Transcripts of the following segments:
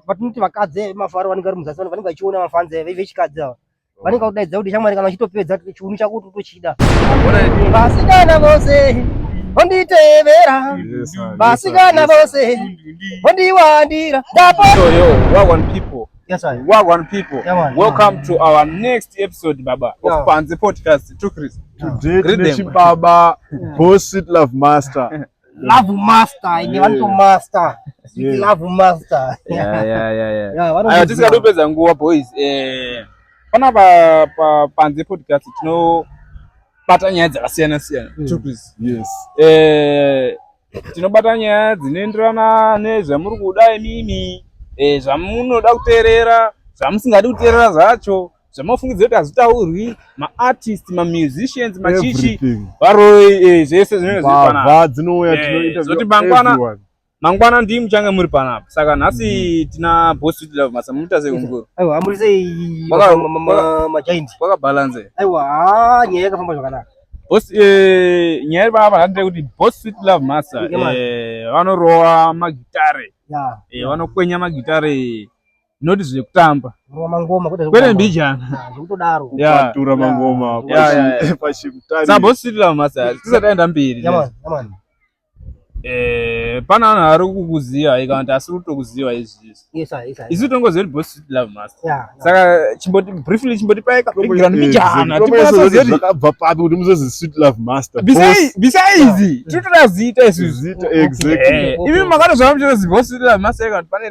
vatinoti vakadzi vemafaro vanenge vari muzasi vanenge vachiona mafanzi ave vechikadzi ava vanenge vakudaidza kuti shamwari kana uchitopedza chiunu chako kuti utochida vasikana vose vonditevera vasikana vose vondiwandira Yes, sir. Work on people. Yeah, man, Welcome yeah, to our next episode, Baba, yeah. of Panzi Podcast. Took Chris. Today, Greet them. Baba, Boss Love Master. love master ende vanoto master love master aya tisingadi kupedza nguva boys eh, panapa panze podcast tinobata nyaya dzakasiyana siyana mm. eh, tinobata nyaya dzinoenderana nezvamuri kuda imimi eh, zvamunoda kuteerera zvamusingadi kuteerera zvacho zvamafungidzira kuti hazvitaurwi maartist mamusicians machichi varoi eh, zvese zvinezvaa dzinouya eh, tinozoti mangwana mangwana ndii muchange muri panapa saka nhasi mm-hmm. tina boss kuti love masa muita sei kumukuru aiwa muri sei majaint kwakabalanse aiwa ah, nyaya yakafamba zvakanaka boss eh, nyaya ipapa handire kuti boss sweet love masa vanorowa magitare vanokwenya magitare not zvekutamba kwete mbijana sabositira masa tisati aenda mberi Eh, pana vanhu vari kukuziva ika kuti asiri kutokuziva izvizvi isu tongoziva kuti boss love master yeah, yeah. saka chimboti briefly chimboti paika background mbijana timbonatozozvakabva papi kuti muzozi sweet love master bisaizi tiri toda zita isusu eh, imi makatozvaa muchitozi boss love master ika kuti pane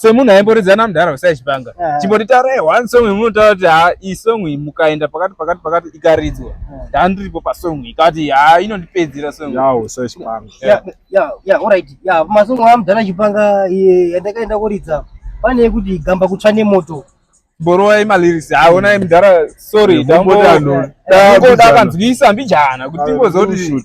semunhu aimboridza namudhara usai chipanga eh. chimbonditaurai eh, one song imunotaura kuti ha iyi song iyi mukaenda pakati pakati pakati ikaridzwa eh. ndandiripo pasong iyi kati ha inondipedzera songamasong amudhara chipanga yandakaenda kuridza pane yekuti gamba kutsva nemoto borowai maliris haonai mudhara sorry dangoda kanzwisa mbijana kuti tingozokuti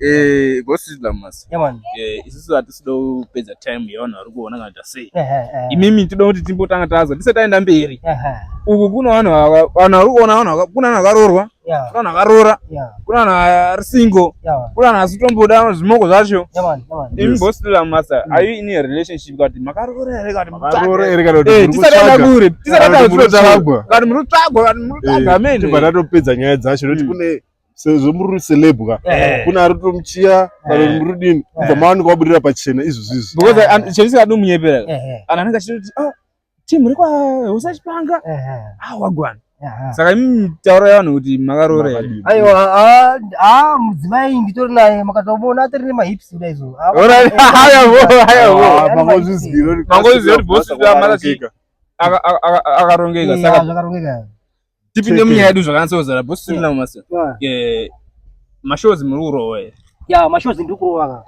Eh, go see them mas. Yeah man. Eh, isisu hatisi do pedza time yevanhu vari kuona kana ta sei. Eh, eh, eh. Imimi tinoda kuti timbotanga tazo tisati taenda mberi. Eh. Uku kuna vanhu vanhu vari kuona vanhu kuna vanhu vakarorwa. Yeah. Kuna vanhu vakarora. Yeah. Kuna vanhu vari single. Yeah. Kuna vanhu asitomboda zvimoko zvacho. Yeah man. Yeah man. Imimi go see them mas. Mm. Are you in a relationship kati makarora here kati makarora here kati. Eh, tisati taenda kure. Tisati taenda kure. Kati muri tsvagwa kati muri tsvagwa. Amen. Tibva tatopedza nyaya dzacho nekuti mm. kune sezvo muri celeb ka eh. kuna ari tomuchiya kana eh. muri dini kubva eh. mawanika wabudirira pachena izvo zvizvi because ah, chavisi kadi umunyepera kana anenge achitoti ah, team ri kwahosa chipanga ah, wagwana saka imi taura yavanhu kuti makaroora aiwa a mudzimai nditori naye makatomuona atiri nemahips kuda izvo mangozviziva kuti bosi akarongeka saka tipinde munyaya yedu zvakanasa kuzara boss tiri navo masa eh, mashows muri kurova here ya mashows ndiri kurova ka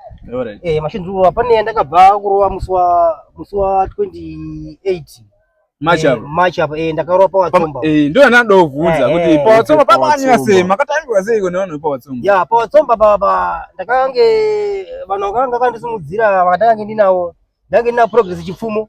eh, mashows ndiri kurova pane yandakabva kurova musi wa musi wa 28 Eh, match apa eh, ndakarova pawatsomba eh, ndo yanada kuvhunza kuti pawatsomba pakanyanya sei makatambirwa sei kune vanhu vepawatsomba ya pawatsomba papa ndakange vanhu vakanga vakandisimudzira vakatange ndinavo ndange ndina progress chipfumo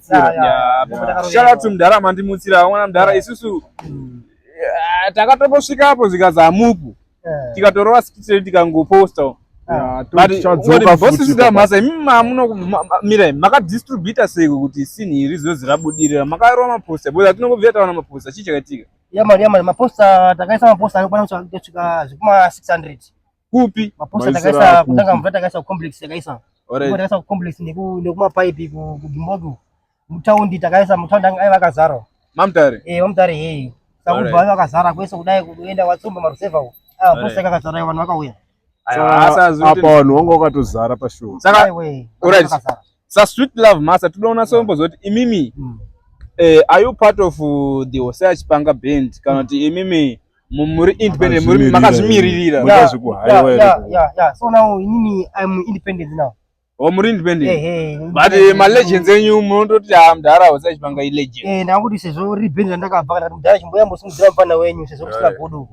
shalatu mudhara mandimutsira vamwana mudhara isusu mm. eh, takatongosvika apo zvikanzi hamupo eh. tikatorova sikitire tikangoposta ah. butbosisitamasa imi mamunomira makadistributa seko kuti sinhi iri zvinonzi rabudirira makarova maposta bcause atinongobvira taona maposta chii chakaitika yamari yamari maposta takaisa maposta anokwana kusvika zvekuma 600 kupi maposa takaisa kutanga mvura takaisa complex takaisa alright takaisa complex neku nekuma pipe ku Gimbogo mutaundi takaisa mutaundi anga aiva akazara mamtare eh mamtare hey sakubva aiva akazara kwese kudai kuenda watsumba maruseva uko ah posa akazara vanhu vakauya apa vanhu wanga wakatozara pashow saka alright sa sweet love masa tinoda kunatsa kumboziva kuti imimi mm. eh, are you part of uh, the hose achipanga band kana mm. kuti imimi muri independent muri makazvimiririra so now inini i'm independent now o oh, muri independent eh, eh, but eh, malegends enyu munototi ha ah, mdhara hose achipanga ilegend eh, ndakuti sezvo ri band randakabva kana mdhara chimboya mbosimudzira mufana wenyu sezvo kusina godo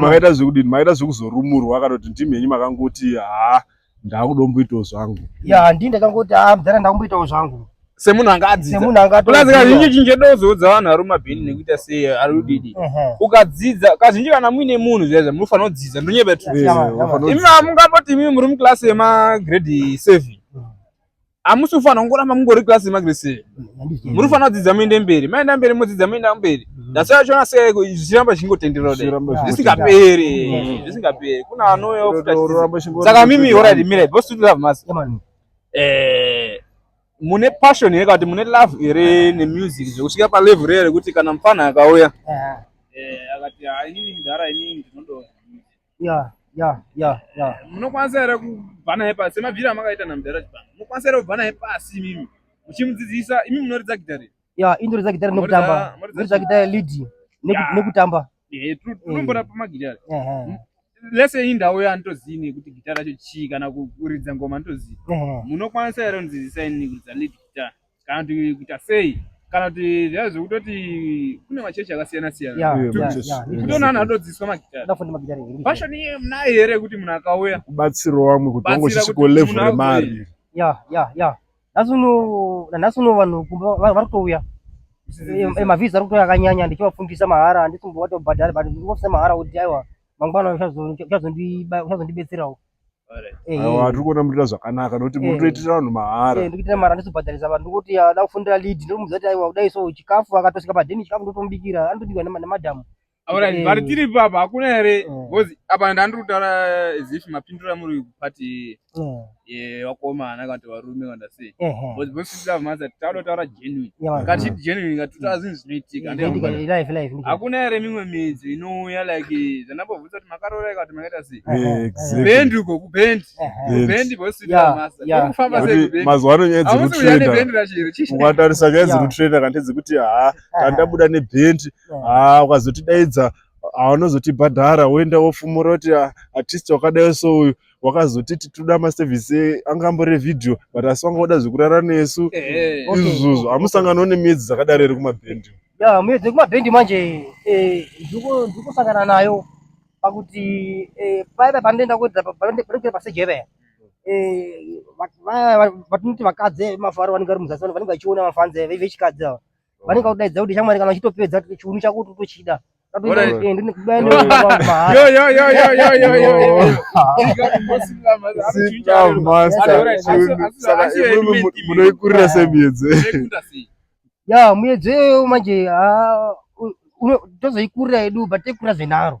makaita zvekudini makaita zvekuzorumurwa kana kuti ndimi henyu makangoti ha ah, ndakudomboitawo zvangu ya handii ndakangoti a ah, mudhara ndakumboitawo zvangu semunhu anga adzidzakazhinji kazhinji dozoudza vanhu vari mumabhini nekuita sei ari udidi ukadzidza kazhinji kana muine munhu zviyaizva munofanira kudzidza ndonyebetimi mungamboti imimi muri muklasi yemagrade seven hamusi kufanira kungoramba mungori klasi magrese muri kufanira kudzidza muende mberi maenda mberi modzidza moenda mberi mm. that's why achiona se zvichiramba zvichingotenderera zvisingaperi mm. zvisingaperi kuna anoyosaka mimi orati mirai bos to love mas eh, mune passion here kati mune love here nemusic zvekusvika palevel rere kuti kana mfana akauya eh, akati ah, inini ndara inini ndinodo ya ya ya ya munokwanisa here kubva naye pasi semabvira amakaita namudhara chibanga munokwanisa here kubva naye pasi imimi muchimudzidzisa imi munoridza gitare ya indoridza gitare nekutamba noridza gitare lead nekutamba unombona pamagitare lese iyi ndau yanditoziini yekuti gita racho chii kana kuridza ngoma nditoziva munokwanisa here kundidzidzisa ini kuridza lead guitar kana kuti kuita sei kana kuti zvaa zvekutoti kune machechi akasiyana siyana kutoona anhu atodzidziswa magitarirfashoni iye munaye here yekuti munhu akauya kubatsiro wamwe kuti wango chisiko level remari ya ya ya nhasi uno nanhasi uno vanhu vari kutouya emavhizi ari kutouya akanyanya ndichivafundisa mahara handisi mbovatobhadhari but ndikufundisa mahara kuti aiwa mangwana uchazondibetserawo awa tiri kuona murita zvakanaka nokuti muri kutoitira vanhu mahara eh, ndikuitira mahara ndizobhadharisa vanhu ndikuti ada ah, kufundira lead ndomuudza kuti aiwa kudai so chikafu akatosvika padheni chikafu ndotomubikira anotobikwa nemadhamu aurati eh. vari tiri ipapa hakuna here eh. bcause apa ndandiri kutaura zif mapindiro amuri kupati wakomana kana kuti varume kana sei bcause bcause tiri love mazati tauda kutaura hakuna here mimwe midzi inouya like zvanambobvunza kuti makaroora ikati makaita sei kubendi uko kubendi kubendi bosifamba seimazuva ano nyaya dzekutrendaukatarisa nyaya dzekutrenda kante dzekuti haa tandabuda nebendi haa ukazotidaidza haunozotibhadhara woenda wofumura kuti artist wakadai so uyu wakazoti titoda maservice anga ambore video but asi wanga wada zvekurara nesu eh, eh. izvozvo hamusangano nemedzi dzakadaro here kumabhendi ya mudzi kumabhendi manje eh, ndikusangana nayo pakuti paiva panoenda kuenda pasejeve vatinoti vakadzi mafaro vanenge vari muzasi vanenge vachiona mafanzi vechikadzi ava vanenge vakudaidza kuti shamwari kana uchitopedza chiunu chako kuti utochida munoikurira semiedzo ya muedzo iyoyo manje tozoikurira yedu but taikurira zvenaro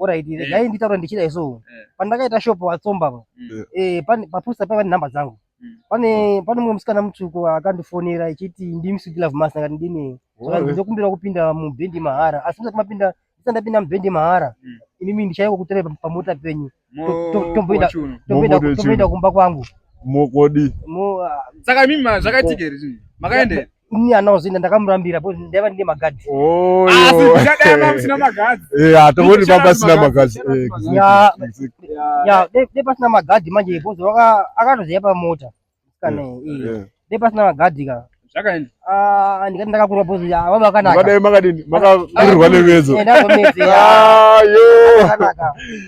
Alright, eh. dai nditaura ndichidai so. Eh. Pandakaita shop watsomba apa. Mm. Eh, papusa paiva nenhamba dzangu. Mm. Pane pane mumwe musikana mutsvuku akandifonera echiti ndimi Sweet Love Master ngati ndini. Saka ndinokumbira kupinda mubhendi mahara. Asi musati mapinda, ndisati ndapinda mubhendi mahara. Mm. Inimi ndichaiwa kutora pamota penyu. Tomboenda tomboenda tomboenda kumba kwangu. Mokodi. Mo ah. Saka mimi zvakaitika here? Makaenda? ini anaozinda ndakamurambira bo ndaiva ndine magadzi hatomoni baba asina magadzi dai pasina magadhi manje bozo akatoziva pamota dai pasina magadhi ka ah, ndikati ndakakurwa bozo vava vakanaka makadini makakurirwa nemedzo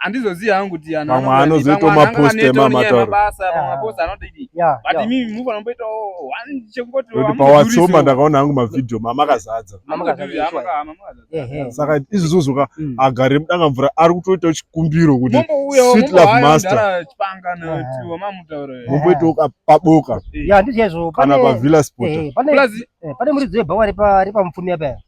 handizozivi hangu kuti vamwe anozoitawo maposte mamataurabasa vamwe maposte anodii but imimi mufa nomboitawo chekungoti pawatsoma ndakaona hangu mavhidhiyo mamakazadza saka izvi zozoka mm. agare mudanga mvura ari kutoitawo chikumbiro kuti sweet love master momboitawo paboka kana pavilla spot eh, eh, eh, pane muridzo yebhawa repamupfumi apaya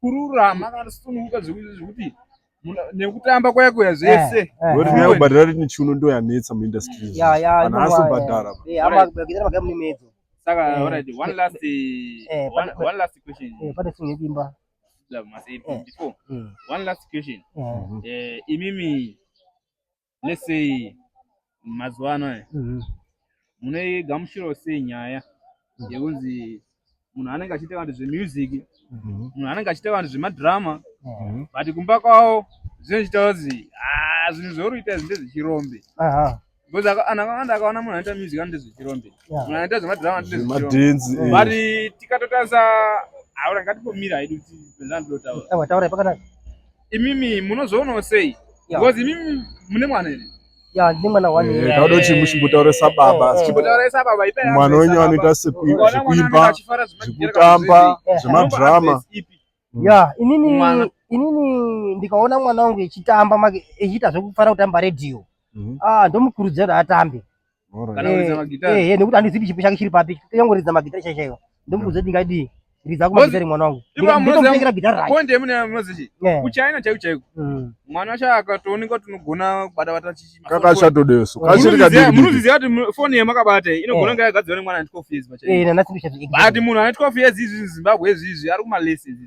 kururama kana kusununguka zvekuti nekutamba kwaya kuya zvese eh, eh, eh. nyaya kubhadhara rini chiuno ndo yanetsa muindustry vanhu asi kubhadhara saka alright one last one last question pane singe dimba before one last question imimi let's say mazuva ano aya Mhm. munoigamuchirawo sei nyaya yekunzi munhu anenge achiita vanhu zvemusic Mhm. munhu anenge achiita vanhu zvemadrama Mhm. but kumba kwavo zvinochiita kunzi "Ah, zvinhu zvauri kuita izvi ndezvechirombe Aha. because aka- anhu akawanda akaona munhu anoita music anoita zvechirombe Yeah. munhu anoita zvemadrama anoita zvechirombe zvemadhenzi eh. but tikatotarisa aura ngatimbomira hedu kuti zvandotaura Aiwa, taurai pakanaka. imimi munozvionawo sei because imimi mune mwana here ya ndine mwana one year tauda kuti muchimbotaurisa baba chimbotaurisa baba ipai mwana wenyu anoita sekuimba zvekutamba zvemadrama ya inini inini ndikaona mwana wangu echitamba make echiita zvekufara kutamba radio mhm. ah ndomukurudzira kuti atambe Eh, nekuti handizivi chipo chake chiri papi yangoridza magitare chaizvaiva ndomuudza kuti ndingadii ridza kumagitare mwana wangu ndinomutengira gitare rakonde mune munozichi kuchina chaiku chaiku mwana wacho akatooneka kuti unogona kubata bata kakachatodeso kachirikamunoziziva kuti foni yemakabate inogona kunge yagadzirwa nemwana ane 12 years pachaipo but munhu ane 12 years izvi zimbabwe izvi izvi ari kumalesi izvi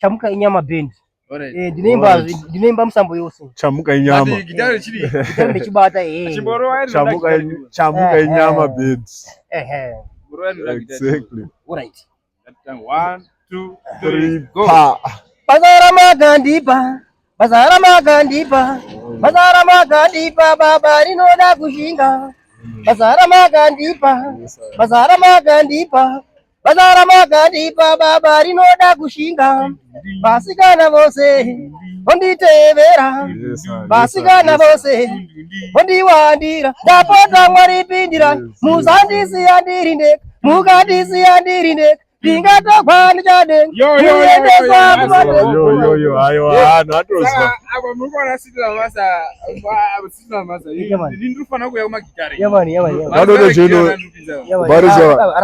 chamuka inyama band eh, ndinoimba musambo yose chamuka inyama ndechibata eh. chamuka eh, inyama band exactly One, two, three, go. Pazara makandipa Basa ramakandipa, basa ramakandipa baba rinoda kushinga. Basa ramakandipa, basa ramakandipa, basa ramakandipa baba rinoda kushinga. Vasikana vose vonditevera, vasikana vose vondiwandira. Ndapota Mwari pindira, musandisiya ndiri ndega, mukandisiya ndiri ndega. ndingatogwa ndichadenga kuendeswa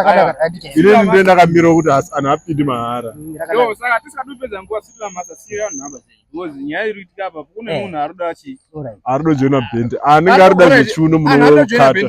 kumainini nde ndakamira kuti anhu apindi mahara arudo jena bendi anenge aruda zvechiuno munookata